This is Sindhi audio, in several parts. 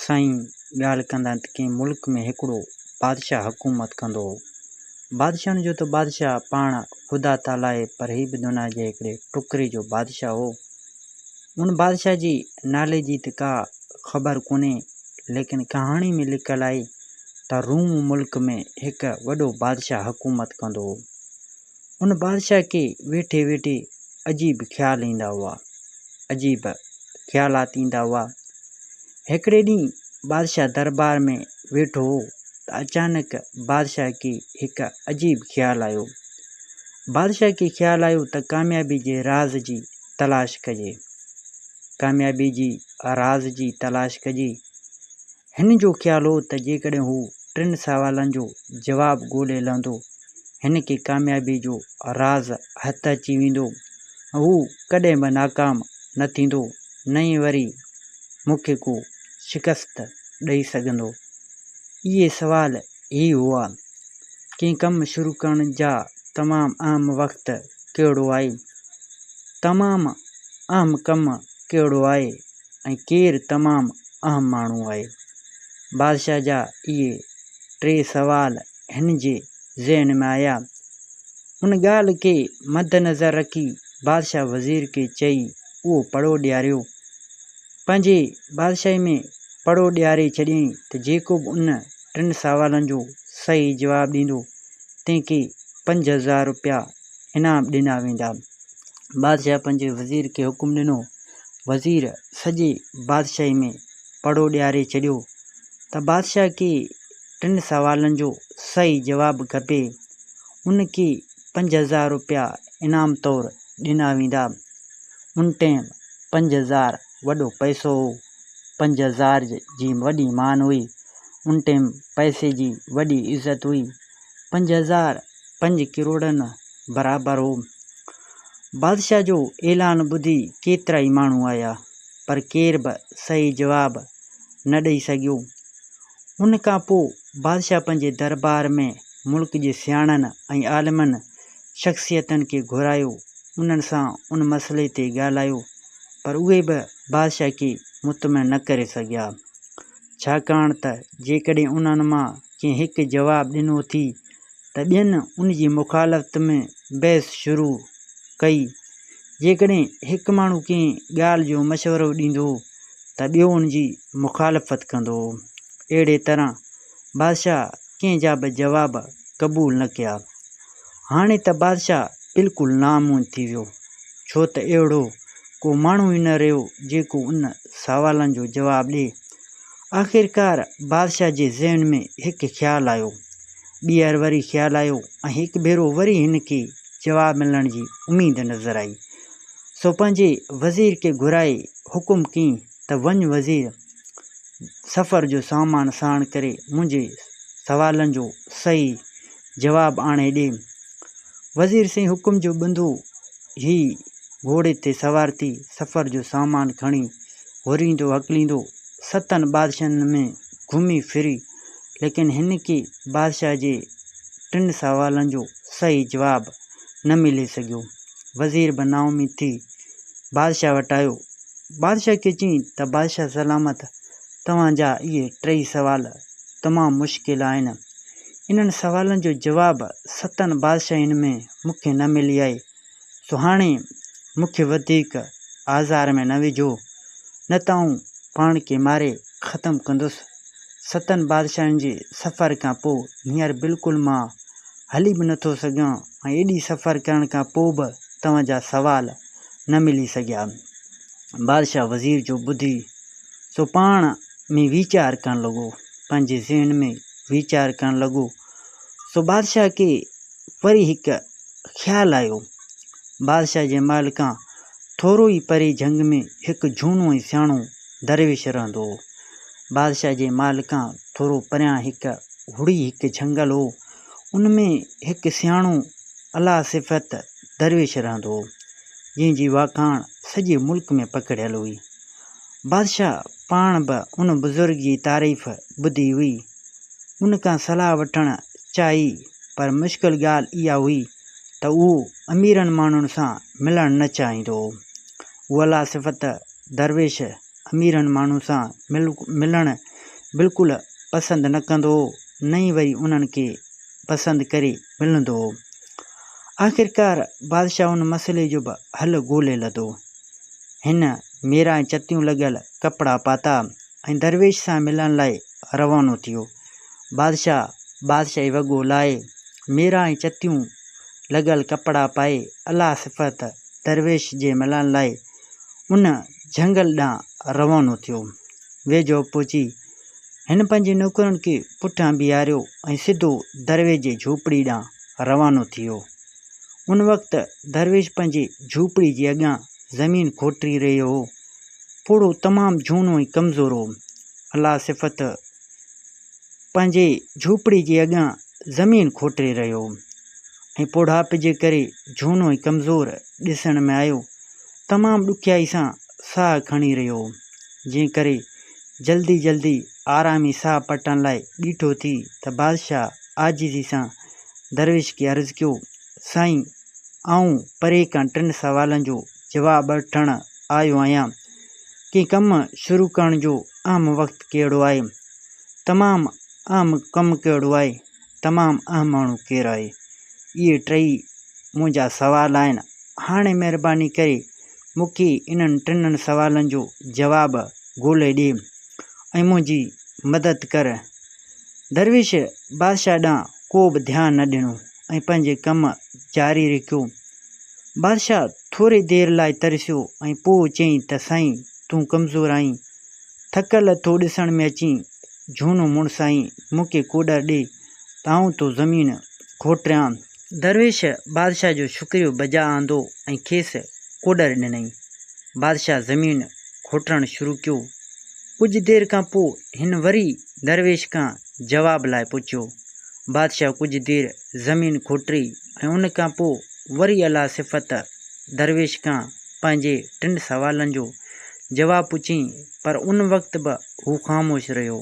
سائين ڳالهه ڪندا ته ڪنهن ملڪ ۾ هڪڙو بادشاهه حڪومت ڪندو هو. بادشاهن جو ته بادشاهه پاڻ خدا تعاليٰ هي پر هي به دنيا جي هڪڙي ٽڪري جو بادشاهه هو. ان بادشاهه جي نالي جي ته ڪا خبر ڪونهي ليڪن ڪهاڻي ۾ لکيل آهي ته روم ملڪ ۾ هڪ وڏو بادشاهه حڪومت ڪندو هو. ان بادشاهه کي ويٺي ويٺي عجيب خيال ايندا هئا. عجيب خيالات ايندا هئا. هڪڙي ڏينهن بادشاهه دربار ۾ ويٺو هو ته اچانڪ بادشاهه کي هڪ عجيب خيال آيو. بادشاهه کي خيال آيو ته ڪاميابي جي راز جي تلاش ڪجي. ڪاميابي جي راز جي تلاش ڪجي. هن جو خيال هو ته جيڪڏهن هو ٽن سوالن جو جواب ڳولي لهندو، هن کي ڪاميابيء جو راز هٿ اچي ويندو ۽ هو ڪڏهن به ناڪام نه ٿيندو، نه ئي وري مون کي ڪو شڪست ڏئي سگهندو. اهي سوال هي هئا، ڪنهن ڪم شروع ڪرڻ جا تمام اهم وقت ڪهڙو آهي؟ تمام اهم ڪم ڪهڙو آهي؟ ۽ ڪير تمام اهم ماڻهو آهي؟ بادشاهه جا اهي ٽي سوال هن جي ذهن ۾ آيا. ان ڳالهه کي مدنظر رکي بادشاهه وزير کي چئي اهو پڙو ڏياريو. پنهنجي بادشاهي ۾ پڙو ڏياري ڇڏيائين ته جيڪو به ان ٽن سوالن جو صحيح جواب ڏيندو تنهن کي پنج هزار روپيا انعام ڏنا ويندا. بادشاهه پنهنجي وزير کي حڪم ڏنو. وزير سڄي بادشاهي ۾ پڙهو ڏياري ڇڏيو ته بادشاهه کي ٽن سوالن جو صحيح جواب کپي. ان کي پنج هزار روپيا انعام طور ڏنا ويندا. ان ٽئيم پنج هزار وڏو پئسو هو. پنج هزار جي وڏي مان هئي. ان ٽئيم پئسي جي وڏي عزت هئي. پنج هزار پنج ڪروڙن برابر هو. بادشاهه جو اعلان ٻڌي ڪيترائي ماڻهو آيا، پر ڪير به صحيح جواب نه ڏئي سگهيو. ان کان پوء بادشاهه پنهنجي دربار ۾ ملڪ جي سياڻن ۽ عالمن شخصيتن کي گهرايو، انهن سان ان مسئلي تي ڳالهايو، پر اهي به بادشاهه کي مطمئن نه ڪري سگهيا، ڇاڪاڻ ته جيڪڏهن انهن مان ڪنهن هڪ جواب ڏنو ٿي ته ٻين ان جي مخالفت ۾ بحث شروع ڪئي. جيڪڏهن هڪ ماڻهو ڪنهن ڳالهه جو مشورو ڏيندو ته ٻيو ان جي مخالفت ڪندو. اهڙي طرح بادشاهه ڪنهن جا به جواب قبول نه ڪيا. هاڻي ته بادشاهه بلڪل نامون ٿي ويو، ڇو ته اهڙو ڪو ماڻهو ئي نه رهيو جيڪو ان سوالن جو جواب ڏئي. آخرڪار بادشاهه جي ذهن ۾ هڪ خيال آيو. ٻيهر وري خيال آيو ۽ هڪ ڀيرو وري هن کي جواب ملڻ جي اميد نظر آئي. سو پنهنجي وزير کي گهرائي حڪم ڪيئن ته وڃ وزير! سفر جو سامان ساڻ ڪري منهنجي سوالن جو صحيح جواب آڻي ڏي. وزير سين حڪم جو ٻنڌو هي گهوڙي تي سوار ٿي سفر جو سامان کڻي هوريندو هڪليندو ستن بادشاهن ۾ گهمي ڦري ليڪن هن کي بادشاهه جي ٽن سوالن جو صحيح جواب نه ملي سگهيو. وزير به نااميد ٿي بادشاهه وٽ آيو. بادشاهه کي چين ته بادشاهه سلامت توهان جا اهي ٽيئي سوال تمام مشڪل آهن. انهن سوالن جو جواب ستن بادشاهين ۾ مون کي نه ملي آهي، سو هاڻي مون کي وڌيڪ آزار ۾ نه وجهو، نه ته آئون پاڻ کي ماري ختم ڪندس. ستن بادشاهين جي سفر کان پوء هينئر بلڪل مان هلي به نه ٿو سگهان ۽ ايڏي سفر ڪرڻ کان پوء به توهان جا سوال نه ملي سگهيا. بادشاهه وزير جو ٻڌي سو پاڻ ۾ ويچار ڪرڻ لڳو، پنهنجي ذهن ۾ ويچار ڪرڻ لڳو سو بادشاهه کي وري هڪ خيال آيو. بادشاهه جي محل کان ٿورو ئي پري جهنگ ۾ هڪ جهونو ۽ سياڻو درويش رهندو هو. بادشاهه جي محل کان ٿورو پريان هڪ هڙئي هڪ جهنگل هو، ان ۾ هڪ سياڻو اعليٰ صفت درويش رهندو هو، جنهن جي واکاڻ سڄي ملڪ ۾ پکڙيل هئي. بادشاهه پاڻ به ان بزرگ جي تعريف ٻڌي هئي. ان کان صلاح وٺڻ چاهي پر مشڪل ڳالهه اها هئي ته اهو اميرن ماڻهن سان ملڻ نه چاهيندو هو. اوليٰ صفت درويش اميرن ماڻهن سان ملڻ بلڪل پسند نه ڪندو هو نه ئي وري انهن کي پسند ڪري ملندو هو. آخرڪار بادشاهه ان مسئلي جو به حل ڳولي لڌو. هن ميرا ۽ چتيون لڳل ڪپڙا پاتا ۽ درويش سان ملڻ لاء روانو ٿيو. بادشاهه بادشاهي وڳو لاهي، ميرا ۽ چتيون لڳل ڪپڙا پائي الله صفت درويش جي ملڻ لاء ان جهنگل ڏانهن روانو ٿيو. ويجهو پهچي هن پنهنجي نوڪرن کي پٺيان بيهاريو ۽ سڌو درويش جي جهوپڙي ڏانهن روانو ٿيو. ان وقت درويش پنهنجي جهوپڙي جي اڳيان زمين کوٽي رهيو هو. پوڙهو تمام جهونو ۽ ڪمزور هو. الله صفت پنهنجي جهوپڙي جي اڳيان زمين کوٽي رهيو هو ۽ پوڙهائپ جي ڪري جهونو ۽ ڪمزور ڏسڻ ۾ آيو. تمام ڏکيائي سان ساهه کڻي رهيو هو، جنهن ڪري جلدي جلدي آرامي ساهه پٽڻ لاء بيٺو ٿي ته بادشاهه عاجزي سان درويش کي عرض ڪيو، سائين! آئون پري کان ٽن سوالن جو جواب وٺڻ آيو آهيان. ڪنهن ڪم شروع ڪرڻ جو اهم وقت ڪهڙو آهي؟ تمام اهم ڪم ڪهڙو آهي؟ تمام اهم ماڻهو ڪير آهي؟ اهي ٽئي منهنجا سوال آهن. هاڻي مهرباني ڪري مون کي انهن ٽنهن سوالن جو جواب ڳولي ڏي ۽ منهنجي مدد ڪر. درويش بادشاهه ڏانهن ڪو به ڌيان نه ڏنو ۽ پنهنجي ڪم جاري رکيو. بادشاهه ٿوري دير لاء ترسيو ۽ پوء چيائين ته سائين تون ڪمزور آهين، ٿڪل ٿو ڏسڻ ۾ اچين، جهونو مڙسائين، مون کي ڪوڏر ڏي، تائون تو زمين کوٽريان. درويش بادشاهه جو شڪريو بجا آندو ۽ کيس ڪوڏر ڏنائين. بادشاهه زمين کوٽرڻ شروع ڪيو. ڪجهه دير کان پوء هن وري درويش کان جواب لاء پڇيو. بادشاهه ڪجهه دير زمين کوٽري ۽ ان کان پوء وري الله صفت درويش کان پنهنجي ٽن سوالن جو جواب پڇيائين پر ان وقت به هو خاموش رهيو.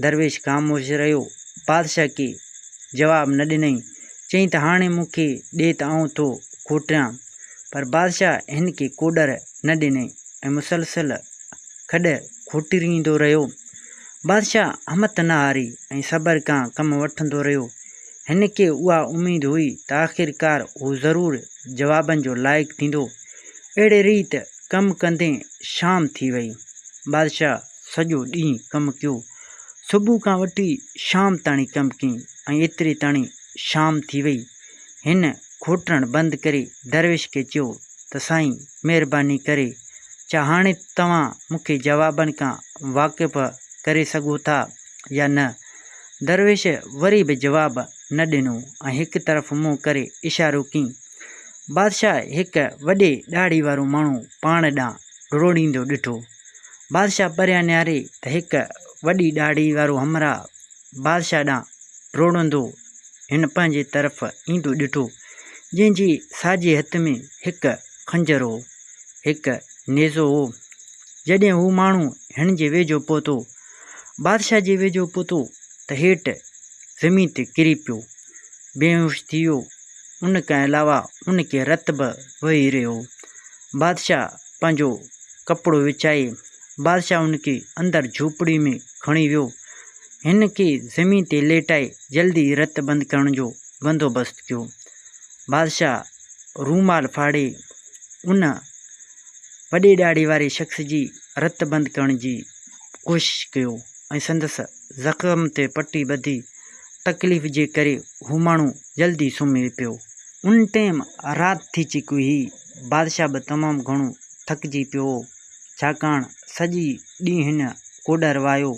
درويش خاموش رهيو. بادشاهه کي جواب نه ڏنائين. چيائين ته هاڻي مون کي ڏي ته آئون ٿو کوٽيان. پر بادشاهه هن کي ڪوڏر نه ڏنائين ۽ مسلسل کڏ کوٽيندو رهيو. بادشاهه همٿ نه هاري ۽ صبر کان ڪم وٺندو رهيو. هن کي اها اميد هئي ته آخرڪار هو ضرور جوابن جو لائق ٿيندو. اهڙي ريت ڪم ڪندي شام ٿي وئي. بادشاهه سڄو ڏينهن ڪم ڪيو. صبح کان وٺي شام تاڻي ڪم ڪيائين ۽ ايتري تاڻي شام ٿي وئي. هن کوٽڻ بند ڪري درويش کي چيو ته سائين مهرباني ڪري ڇا هاڻي توهان مون کي جوابن کان واقف ڪري سگهو ٿا يا نه؟ درويش وري به جواب نه ڏنو ۽ هڪ طرف منهن ڪري اشارو ڪيئي. بادشاهه هڪ وڏي ڏاڙهي وارو ماڻهو پاڻ ڏانهن ڊوڙيندو ڏٺو. بادشاهه پريان نهاري ته هڪ وڏي ڏاڙهي وارو همراهه بادشاهه ڏانهن ڊوڙندو هن پنهنجي طرف ايندو ڏٺو، جنهن جي ساڄي هٿ ۾ هڪ خنجر هو، هڪ نيزو هو. جڏهن هو ماڻهو هن جي ويجهو پهتو، بادشاهه جي ويجهو پهتو ته هيٺ زمين تي ڪري پيو، بيهوش ٿي ويو، ان کان علاوه ان کي رت به وهي رهيو هو. بادشاهه پنهنجو ڪپڙو وڇائي، بادشاهه ان کي اندر جهوپڙي ۾ کڻي ويو. هن کي زمين تي ليٽائي جلدي رت بند ڪرڻ جو بندوبست ڪيو. بادشاهه رومال ڦاڙي ان وڏي ڏاڙهي واري شخص جي رت بند ڪرڻ جي ڪوشش ڪيو ۽ سندس زخم تي پٽي ٻڌي، تڪليف جي ڪري هو ماڻهو جلد ئي سمهي پيو. ان ٽيم رات ٿي چڪي هئي، بادشاهه به تمام گهڻو ٿڪجي پيو هو، ڇاڪاڻ سڄي ڏينهن هن ڪوڏر واهيو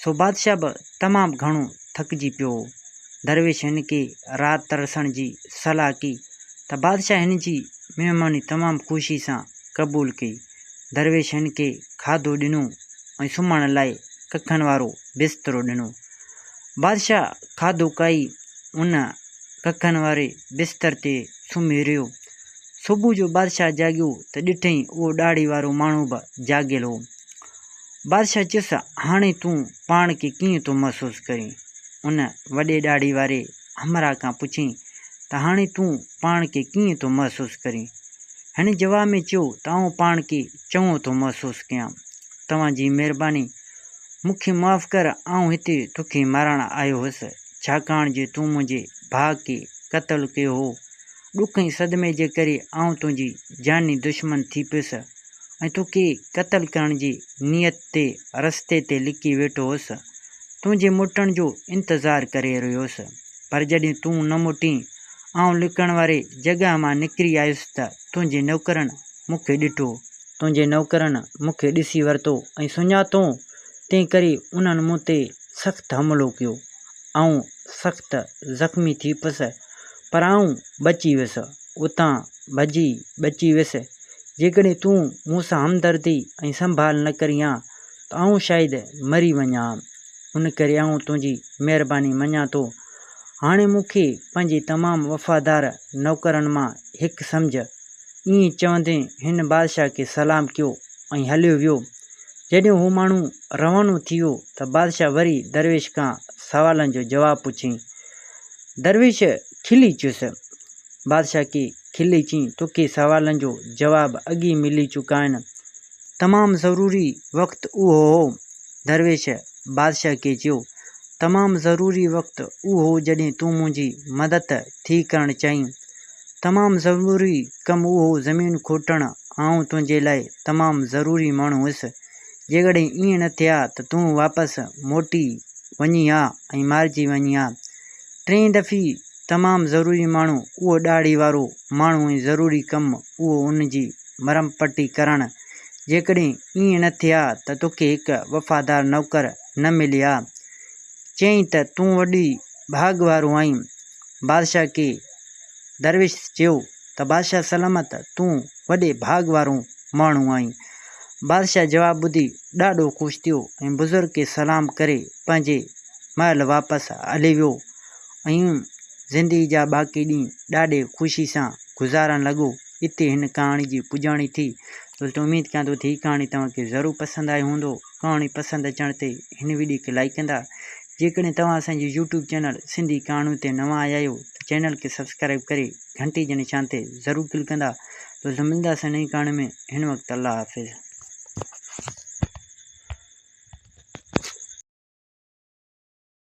سو بادشاهه به تمام گهڻو ٿڪجي پيو هو. درويش هن کي رات ترسڻ جي صلاح ڪئي ته بادشاهه هن جي مهماني تمام خوشي سان قبول ڪئي. درويش هن کي کاڌو ڏنو ۽ سمهڻ لاء ڪکن وارو بسترو ڏنو. بادشاهه کاڌو کائي ان ڪکن واري بستر تي سمهي رهيو. صبح جو بادشاهه جاڳيو ته ڏٺئين اهو ڏاڙهي وارو ماڻهو به جاڳيل هو. بادشاهه چيس، هاڻي تون پاڻ کي ڪيئن ٿو محسوس ڪرين؟ ان وڏي ڏاڙهي واري همراهه کان پڇيائين ته هاڻي تون پاڻ کي ڪيئن ٿو محسوس ڪرين؟ هن جواب ۾ چيو ته آئون پاڻ کي چڱو ٿو محسوس ڪيان. توهان جي مهرباني، مون کي معاف ڪر، آئون هتي توکي مارڻ آيو هوس، ڇاڪاڻ جو تون منهنجي ڀاء کي قتل ڪيو هو. ڏک ۽ صدمي جي ڪري آئون تنهنجي جاني دشمن ٿي پيس. ۽ تون کي قتل ڪرڻ جي نيت تي رستي تي لڪي ويٺو هوس. تنهنجي موٽڻ جو انتظار ڪري رهيو هوس. پر جڏهن تون نه موٽين، آئون لڪڻ واري جڳهه مان نڪري آيس ته تنهنجي نوڪرن مون کي ڏٺو. تنهنجي نوڪرن مون کي ڏسي ورتو ۽ سڃاتئون، تنهن ڪري انهن مون تي سخت حملو ڪيو. آئون سخت زخمي ٿي پيس، پر آئون بچي ويس. اتان ڀڄي بچي ويس جيڪڏهن تون مون سان همدردي ۽ سنڀال نه ڪرين ها ته آئون شايد مري وڃان ها. ان ڪري آئون تنهنجي مهرباني مڃان ٿو. هاڻي مون کي پنهنجي تمام وفادار نوڪرن مان هڪ سمجهه. ائين چوندي هن بادشاهه کي سلام ڪيو ۽ هليو ويو. جڏهن هو ماڻهو روانو ٿي ويو ته بادشاهه وري درويش کان سوالن جو جواب پڇيائين. درويش کلي چيس، بادشاهه کي کلي چيائين، توکي سوالن جو جواب اڳ ئي ملي چڪائين. تمام ضروري وقت اهو هو. درويش بادشاهه کي چيو، تمام ضروري وقت اهو هو جڏهن تون منهنجي مدد ٿي ڪرڻ چاهين. تمام ضروري ڪم اهو هو زمين کوٽڻ آئون تنهنجي لاء تمام ضروري ماڻهو هيس. جيڪڏهن ائين نه ٿئي ها ته تون واپس موٽي وڃين ها ۽ مارجي وڃين ها. ٽئين دفعي تمام ضروري ماڻهو اهو ڏاڙهي وارو ماڻهو ۽ ضروري ڪم اهو ان جي مرهم پٽي ڪرڻ جيڪڏهن ائين نه ٿئي ها ته توکي هڪ وفادار نوڪر نه ملي ها چيائين ته تون وڏي ڀاڳ وارو آهين بادشاهه کي درويش چيو ته بادشاهه سلامت تون وڏي ڀاڳ وارو ماڻهو آهين. بادشاهه جواب ٻڌي ڏاڍو خوش ٿيو ۽ بزرگ کي سلام ڪري پنهنجي محل واپس هلي ويو ۽ زندگي جا باقي ڏينهن ڏاڍي خوشي سان گذارڻ لڳو. اتي هن ڪهاڻي جي پڄاڻي ٿي. دوستو اميد ڪيان ٿو ته هي ڪهاڻي توهان کي ضرور پسند آئي هوندو. ڪهاڻي پسند اچڻ تي هن ويڊيو کي لائيڪ ڪندا. جيڪڏهن توهان اسان جي يوٽيوب چينل سنڌي ڪهاڻيون تي نوان آيا آهيو ته چينل کي سبسڪرائيب ڪري گهنٽي جي نشان تي ضرور ڪلڪ ڪندا دوستو ملنداسين نئين ڪهاڻي ۾ هن وقت الله حافظ.